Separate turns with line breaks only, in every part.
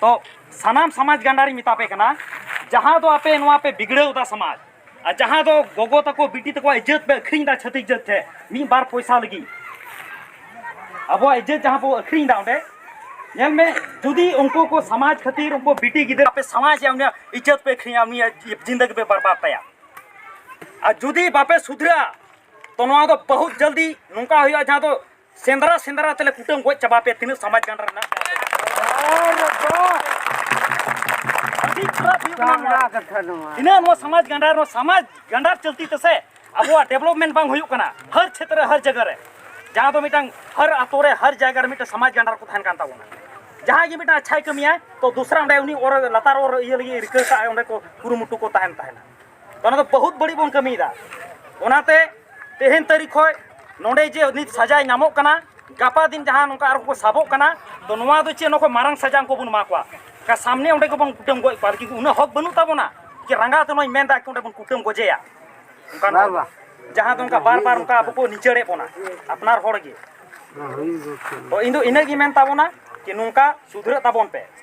ᱛᱚ ᱥᱟᱱᱟᱢ ᱥᱟᱢᱟᱡᱽ ᱜᱟᱱᱰᱟᱨᱤᱧ ᱢᱮᱛᱟ ᱯᱮ ᱠᱟᱱᱟ ᱡᱟᱦᱟᱸ ᱫᱚ ᱟᱯᱮ ᱱᱚᱣᱟ ᱯᱮ ᱵᱤᱜᱽᱲᱟᱹᱣ ᱮᱫᱟ ᱥᱟᱢᱟᱡᱽ ᱟᱨ ᱡᱟᱦᱟᱸ ᱫᱚ ᱜᱚᱜᱚ ᱛᱟᱠᱚ ᱵᱤᱴᱤ ᱛᱟᱠᱚᱣᱟᱜ ᱤᱡᱽᱡᱚᱛ ᱯᱮ ᱟᱹᱠᱷᱨᱤᱧ ᱮᱫᱟ ᱪᱷᱟᱹᱛᱤᱠ ᱡᱟᱹᱛ ᱴᱷᱮᱱ ᱢᱤᱫ ᱵᱟᱨ ᱯᱚᱭᱥᱟ ᱞᱟᱹᱜᱤᱫ ᱟᱵᱚᱣᱟᱜ ᱤᱡᱽᱡᱚᱛ ᱡᱟᱦᱟᱸ ᱵᱚ ᱟᱹᱠᱷᱨᱤᱧ ᱮᱫᱟ ᱚᱸᱰᱮ ᱧᱮᱞ ᱢᱮ ᱡᱩᱫᱤ ᱩᱱᱠᱩ ᱠᱚ ᱥᱟᱢᱟᱡᱽ ᱠᱷᱟᱹᱛᱤᱨ ᱩᱱᱠᱩ ᱵᱤᱴᱤ ᱜᱤᱫᱽᱨᱟᱹ ᱟᱯᱮ ᱥᱟᱢᱟᱡᱽ ᱭᱟ ᱩᱱᱤᱭᱟᱜ ᱤᱡᱽᱡᱚᱛ ᱯᱮ ᱟᱹᱠᱷᱨᱤᱧᱟ ᱩᱱᱤᱭᱟᱜ ᱡᱤᱱᱫᱟᱹᱜᱤ ᱯᱮ ᱵᱟᱨᱵᱟᱫ ᱛᱟᱭᱟ ᱟᱨ ᱡᱩᱫᱤ ᱵᱟᱯᱮ ᱥᱩᱫᱷᱨᱟᱹᱜᱼᱟ ᱛᱚ ᱱᱚᱣᱟ ᱫᱚ ᱵᱚᱦᱩᱛ ᱡᱚᱞᱫᱤ ᱱᱚᱝᱠᱟ ᱦᱩᱭᱩᱜᱼᱟ ᱡᱟᱦᱟᱸ ᱫᱚ ᱥᱮᱸᱫᱽᱨᱟ ᱥᱮᱸᱫᱽᱨᱟ ᱛᱮᱞᱮ ᱠᱩᱴᱟᱹᱢ ᱜᱚᱡ ᱪᱟᱵᱟ ᱯᱮ ᱛᱤᱱᱟᱹᱜ ᱥᱚᱢᱟᱡᱽ ᱜᱟᱱ ᱨᱮᱱᱟᱜ ᱟᱹᱰᱤ ᱠᱷᱟᱨᱟᱯ ᱦᱩᱭᱩᱜ ᱠᱟᱱᱟ ᱛᱤᱱᱟᱹᱜ ᱱᱚᱣᱟ ᱥᱚᱢᱟᱡᱽ ᱜᱟᱸᱰᱟᱨ ᱱᱚᱣᱟ ᱥᱚᱢᱟᱡᱽ ᱜᱟᱸᱰᱟᱨ ᱪᱚᱞᱛᱤ ᱛᱮᱥᱮ ᱟᱵᱚᱣᱟᱜ ᱰᱮᱵᱷᱞᱚᱯᱢᱮᱱᱴ ᱵᱟᱝ ᱦᱩᱭᱩᱜ ᱠᱟᱱᱟ ᱦᱟᱨ ᱪᱷᱮᱛᱨᱮ ᱦᱟᱨ ᱡᱟᱭᱜᱟ ᱨᱮ ᱡᱟᱦᱟᱸ ᱫᱚ ᱢᱤᱫᱴᱟᱝ ᱦᱟᱨ ᱟᱛᱳ ᱨᱮ ᱦᱟᱨ ᱡᱟᱭᱜᱟ ᱨᱮ ᱢᱤᱫᱴᱟᱝ ᱥᱚᱢᱟᱡᱽ ᱜᱟᱸᱰᱟᱨ ᱠᱚ ᱛᱟᱦᱮᱱ ᱠᱟᱱ ᱛᱟᱵᱚᱱᱟ ᱡᱟᱦᱟᱸᱭ ᱜᱮ ᱢᱤᱫᱴᱟᱝ ᱟᱪᱪᱷᱟᱭ ᱠᱟᱹᱢᱤᱭᱟ ᱛᱚ ᱫᱚᱥᱨᱟ ᱚᱸᱰᱮ ᱩᱱᱤ ᱚᱨ ᱞᱟᱛᱟᱨ ᱚᱨ ᱤᱭᱟᱹ ᱞᱟᱹᱜᱤᱫ ᱨᱤᱠᱟᱹ ᱠᱟᱜᱼᱟᱭ ᱚᱸᱰᱮ ᱠᱚ ᱠᱩᱨᱩᱢᱩᱴᱩ ᱠᱚ ᱛᱟᱦᱮᱱ ᱛᱟᱦᱮᱱᱟ ᱚᱱᱟ ᱫᱚ ᱵᱚᱦᱩᱛ ᱵᱟᱹᱲᱤᱡ ᱵᱚᱱ ᱠᱟᱹᱢᱤᱭᱮᱫᱟ ᱚᱱᱟᱛᱮ ᱛᱮᱦᱮᱧ ᱛᱟᱹᱨᱤᱠᱷ ᱠᱷᱚᱱ ᱱᱚᱰᱮ ᱡᱮ ᱱᱤᱛ ᱥᱟᱡᱟᱭ ᱧᱟᱢᱚᱜ ᱠᱟᱱᱟ ᱜᱟᱯᱟ ᱫᱤᱱ ᱡᱟᱦᱟᱸ ᱱᱚᱝᱠᱟ ᱟᱨᱦᱚᱸ ᱠᱚ ᱥᱟᱵᱚᱜ ᱠᱟᱱᱟ ᱛᱚ ᱱᱚᱣᱟ ᱫᱚ ᱪᱮᱫ ᱱᱚᱠᱚ ᱢᱟᱨᱟᱝ ᱥᱟᱡᱟ ᱩᱱᱠᱩ ᱵᱚᱱ ᱮᱢᱟ ᱠᱚᱣᱟ ᱠᱟ ᱥᱟᱢᱱᱮ ᱚᱸᱰᱮ ᱜᱮᱵᱚᱱ ᱠᱩᱴᱟᱹᱢ ᱜᱚᱡ ᱠᱚᱣᱟ ᱠᱤᱱᱛᱩ ᱩᱱᱟᱹᱜ ᱦᱚᱠ ᱵᱟᱹᱱᱩᱜ ᱛᱟᱵᱚᱱᱟ ᱡᱮ ᱨᱟᱸᱜᱟᱣ ᱛᱮ ᱱᱚᱣᱟᱧ ᱢᱮᱱᱫᱟ ᱚᱸᱰᱮ ᱵᱚᱱ ᱠᱩᱴᱟᱹᱢ ᱜᱚᱡᱮᱭᱟ ᱚᱱᱠᱟ ᱱᱚᱣᱟ ᱡᱟᱦᱟᱸ ᱫᱚ ᱚᱱᱠᱟ ᱵᱟᱨ ᱵᱟᱨ ᱚᱱᱠᱟ ᱟᱵᱚ ᱠᱚ ᱱᱤᱪᱟᱹᱲᱮᱫ ᱵᱚᱱᱟ ᱟᱯᱱᱟᱨ ᱦᱚᱲ ᱜᱮ ᱛᱚ ᱤᱧ ᱫᱚ ᱤᱱᱟᱹᱜᱮ ᱢᱮᱱ ᱛᱟᱵᱚᱱᱟ ᱡᱮ ᱱᱚᱝᱠᱟ ᱥᱩᱫᱷᱨᱟᱹᱜ ᱛᱟᱵᱚᱱ ᱯᱮ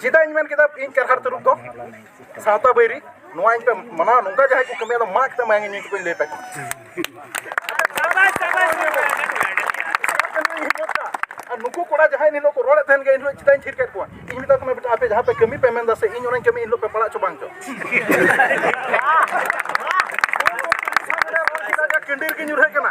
ᱪᱮᱫᱟᱜ ᱤᱧ ᱢᱮᱱ ᱠᱮᱫᱟ ᱤᱧ ᱠᱟᱨᱦᱟᱲ ᱛᱟᱹᱨᱩᱵ ᱫᱚ ᱥᱟᱶᱛᱟ ᱵᱟᱹᱭᱨᱤ ᱱᱚᱣᱟ ᱤᱧ ᱯᱮ ᱢᱟᱱᱟᱣ ᱱᱚᱝᱠᱟ ᱡᱟᱦᱟᱸᱭ ᱠᱚ ᱠᱟᱹᱢᱤᱭᱟ ᱫᱚ ᱢᱟ ᱠᱟᱛᱮ ᱢᱟᱭᱟᱝ ᱤᱧ ᱠᱚᱧ ᱞᱟᱹᱭ ᱯᱮ ᱠᱟᱱᱟ ᱟᱨ ᱱᱩᱠᱩ ᱠᱚᱲᱟ ᱡᱟᱦᱟᱸᱭ ᱱᱤᱞᱚᱜ ᱠᱚ ᱨᱚᱲᱮᱫ ᱛᱟᱦᱮᱱ ᱜᱮ ᱤᱧ ᱪᱮᱫᱟᱜ ᱤᱧ ᱛᱷᱤᱨ ᱠᱮᱫ ᱠᱚᱣᱟ ᱤᱧ ᱢᱮᱛᱟ ᱠᱚ ᱠᱟᱱᱟ ᱵᱮᱴᱟ ᱟᱯᱮ ᱡᱟᱦᱟᱸ ᱯᱮ ᱠᱟᱹᱢᱤ ᱯᱮ ᱢᱮᱱᱫᱟ ᱥᱮ ᱤᱧ ᱚᱱᱟᱧ ᱠᱟᱹᱢᱤ ᱤᱧ ᱯᱮ ᱯᱟᱲᱟᱜ ᱪᱚ ᱵᱟᱝ ᱪᱚ ᱠᱟᱹᱱᱰᱤᱨ ᱜᱮ ᱧᱩᱨᱦᱟᱹᱜ ᱠᱟᱱᱟ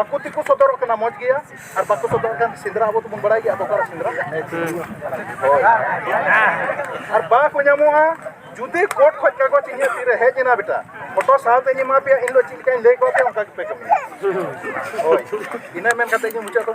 ᱟᱠᱚ ᱛᱮᱠᱚ ᱥᱚᱫᱚᱨᱚᱜ ᱠᱟᱱᱟ ᱢᱚᱡᱽ ᱜᱮᱭᱟ ᱟᱨ ᱵᱟᱠᱚ ᱥᱚᱫᱚᱨᱚᱜ ᱠᱟᱱ ᱥᱮᱸᱫᱽᱨᱟ ᱟᱵᱚ ᱫᱚᱵᱚᱱ ᱵᱟᱲᱟᱭ ᱜᱮᱭᱟ ᱟᱵᱚ ᱚᱠᱟᱨᱮ ᱥᱮᱸᱫᱽᱨᱟ ᱟᱨ ᱵᱟᱠᱚ ᱧᱟᱢᱚᱜᱼᱟ ᱡᱩᱫᱤ ᱠᱳᱨᱴ ᱠᱷᱚᱡ ᱠᱟᱜᱚᱡᱽ ᱤᱧᱟᱹᱜ ᱛᱤᱨᱮ ᱦᱮᱡ ᱮᱱᱟ ᱵᱮᱴᱟ ᱯᱷᱳᱴᱳ ᱥᱟᱶᱛᱮᱧ ᱮᱢᱟ ᱯᱮᱭᱟ ᱤᱧ ᱫᱚ ᱪᱮᱫ ᱞᱮᱠᱟᱧ ᱞᱟᱹᱭ ᱠᱚᱣᱟ ᱯᱮ ᱚᱱᱠᱟ ᱜᱮᱯᱮ ᱠᱟᱹᱢᱤᱭᱟ ᱦᱳᱭ ᱤᱱᱟᱹ ᱢᱮᱱ ᱠᱟᱛᱮ ᱤᱧ ᱢᱩᱪᱟᱹᱫ ᱫᱚ